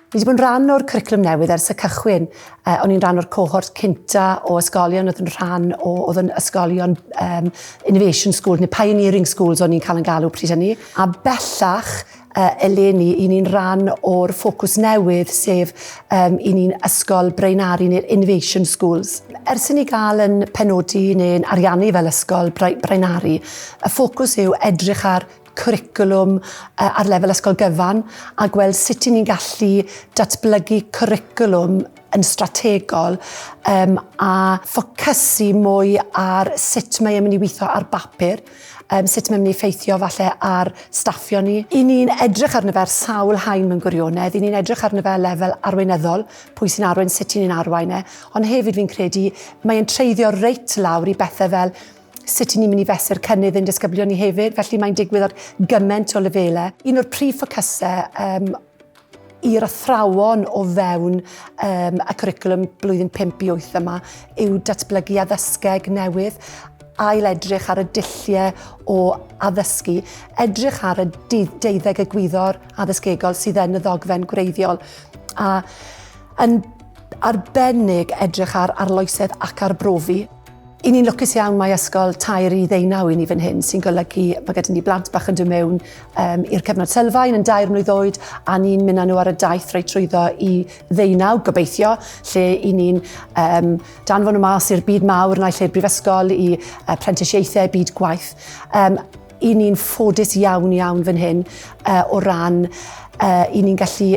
Fi wedi bod yn rhan o'r cwricwlwm newydd ers y cychwyn. Uh, o'n i'n rhan o'r cohort cynta o ysgolion oedd yn rhan o, oedd yn ysgolion um, Innovation Schools neu Pioneering Schools o'n i'n cael yn galw pryd hynny. A bellach uh, eleni, i ni'n rhan o'r ffocws newydd, sef um, i ni'n ysgol braenari neu'r Innovation Schools. Ers i ni gael yn penodi neu'n ariannu fel ysgol braenari, y ffocws yw edrych ar cwricwlwm ar lefel ysgol gyfan a gweld sut i ni'n gallu datblygu cwricwlwm yn strategol um, a ffocysu mwy ar sut mae e'n mynd i weithio ar bapur, um, sut mae'n mynd i effeithio falle ar staffio ni. I ni'n edrych arno fe ar sawl hain mewn gwirionedd, i ni'n edrych arno fe lefel arweinyddol, pwy sy'n arwain, sut i ni'n arwain e, ond hefyd fi'n credu mae'n treiddio reit lawr i bethau fel sut ni'n mynd i fesur cynnydd ein disgyblion ni hefyd, felly mae'n digwydd ar gymaint o lefelau. Un o'r prif ffocysau um, i'r athrawon o fewn um, y cwricwlwm blwyddyn 5 i 8 yma yw datblygu addysgeg newydd ail edrych ar y dulliau o addysgu, edrych ar y deuddeg y gwyddor addysgegol sydd yn y ddogfen gwreiddiol a yn arbennig edrych ar arloesedd ac arbrofi. I ni'n lwcus iawn mae ysgol tair i ddeunaw i ni fan hyn sy'n golygu bod gyda ni blant bach yn dod mewn um, i'r cyfnod sylfaen yn dair mlwydd oed a ni'n mynd â nhw ar y daith reit trwyddo i ddeunaw gobeithio lle i ni'n um, danfon nhw mas i'r byd mawr naill i'r brifysgol i uh, prentisiaethau, byd gwaith. Um, i ni'n ffodus iawn iawn fan hyn uh, o ran uh, i ni'n gallu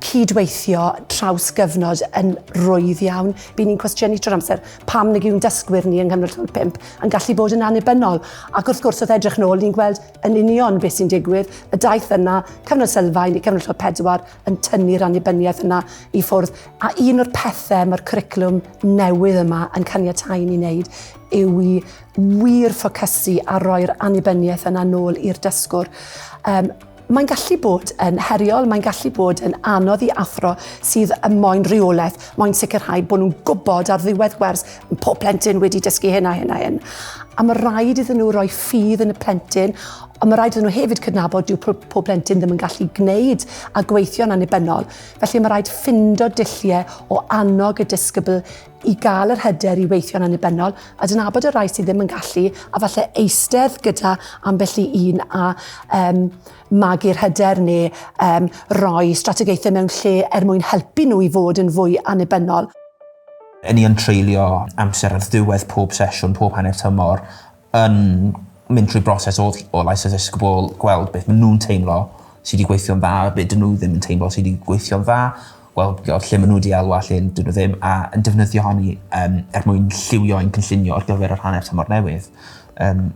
cydweithio traws gyfnod yn rwydd iawn. Bydd ni'n cwestiynu trwy'r amser pam nag yw'n dysgwyr ni yng Nghanol Llwyd 5 yn gallu bod yn annibynnol. Ac wrth gwrs, wrth edrych nôl, ni'n gweld yn union beth sy'n digwydd. Y daith yna, cyfnod sylfaen i cyfnod Llwyd 4, yn tynnu'r annibyniaeth yna i ffwrdd. A un o'r pethau mae'r cwricwlwm newydd yma yn caniatáu ni wneud yw i wir ffocysu ar roi'r annibyniaeth yna nôl i'r dysgwr. Um, Mae'n gallu bod yn heriol, mae'n gallu bod yn anodd i athro sydd yn moyn rheolaeth, moyn sicrhau bod nhw'n gwybod ar ddiwedd gwers pob plentyn wedi dysgu hyn a hyn a hyn. A mae rhaid iddyn nhw roi ffydd yn y plentyn, ond mae rhaid iddyn nhw hefyd cydnabod dyw pob plentyn ddim yn gallu gwneud a gweithio'n annibynnol. Felly mae rhaid ffindo dulliau o annog y disgybl i gael yr hyder i weithio'n annibynnol, adnabod y rhai sydd ddim yn gallu, a falle eistedd gyda ambell i un a um, magu'r hyder neu um, roi strategaethau mewn lle er mwyn helpu nhw i fod yn fwy annibynnol. Yn ni yn treulio amser ar ddiwedd pob sesiwn, pob hanner tymor, yn mynd trwy broses o ll- o lais dysgu bobol gweld beth ma' nw'n teimlo sy 'di gweithio'n dda a be' 'dyn nw ddim yn teimlo sy 'di gweithio'n dda gweld be' o lle ma' nw 'di elwa lle 'dyn nw ddim a yn defnyddio hynny yym er mwyn lliwio ein cynllunio ar gyfer yr hanner tymor newydd. Yym.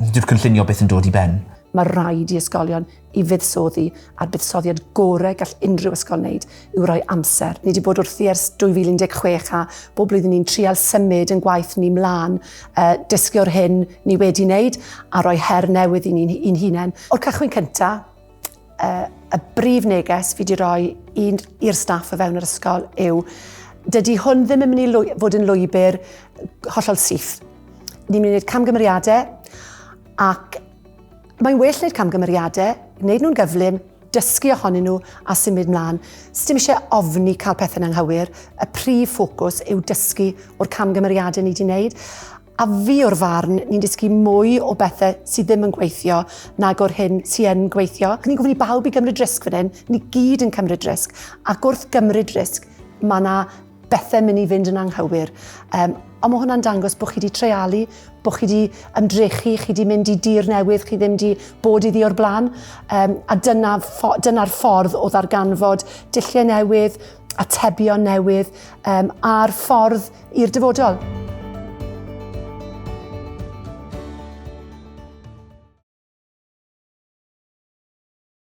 Dyw'r cynllunio byth yn dod i ben. Ma' raid i ysgolion i fuddsoddi a'r buddsoddiad gorau gall unrhyw ysgol wneud yw rhoi amser. Ni wedi bod wrthi ers 2016 a bob blwyddyn ni'n trial symud yn gwaith ni mlaen, uh, dysgu o'r hyn ni wedi wneud a rhoi her newydd i ni'n un hunain. O'r cychwyn cyntaf, uh, y brif neges fi wedi rhoi i'r staff o fewn yr ysgol yw dydy hwn ddim yn mynd i fod yn lwybr hollol syth. Ni'n mynd i wneud camgymeriadau ac Mae'n well wneud camgymeriadau, wneud nhw'n gyflym, dysgu ohonyn nhw a symud mlaen. Sdim eisiau ofni cael pethau'n anghywir, y prif ffocws yw dysgu o'r camgymeriadau ni wedi wneud. A fi o'r farn, ni'n dysgu mwy o bethau sydd ddim yn gweithio nag o'r hyn sy'n yn gweithio. Ni'n gofyn i bawb i gymryd risg fan hyn, ni gyd yn cymryd risg, ac wrth gymryd risg, mae yna bethau mynd i fynd yn anghywir. Um, ond mae hwnna'n dangos bod chi wedi treialu, bod chi wedi ymdrechu, chi wedi mynd i dir newydd, chi ddim wedi bod iddi o'r blaen. Um, a dyna'r ffo, dyna ffordd o ddarganfod dilliau newydd, atebion newydd um, a'r ffordd i'r dyfodol.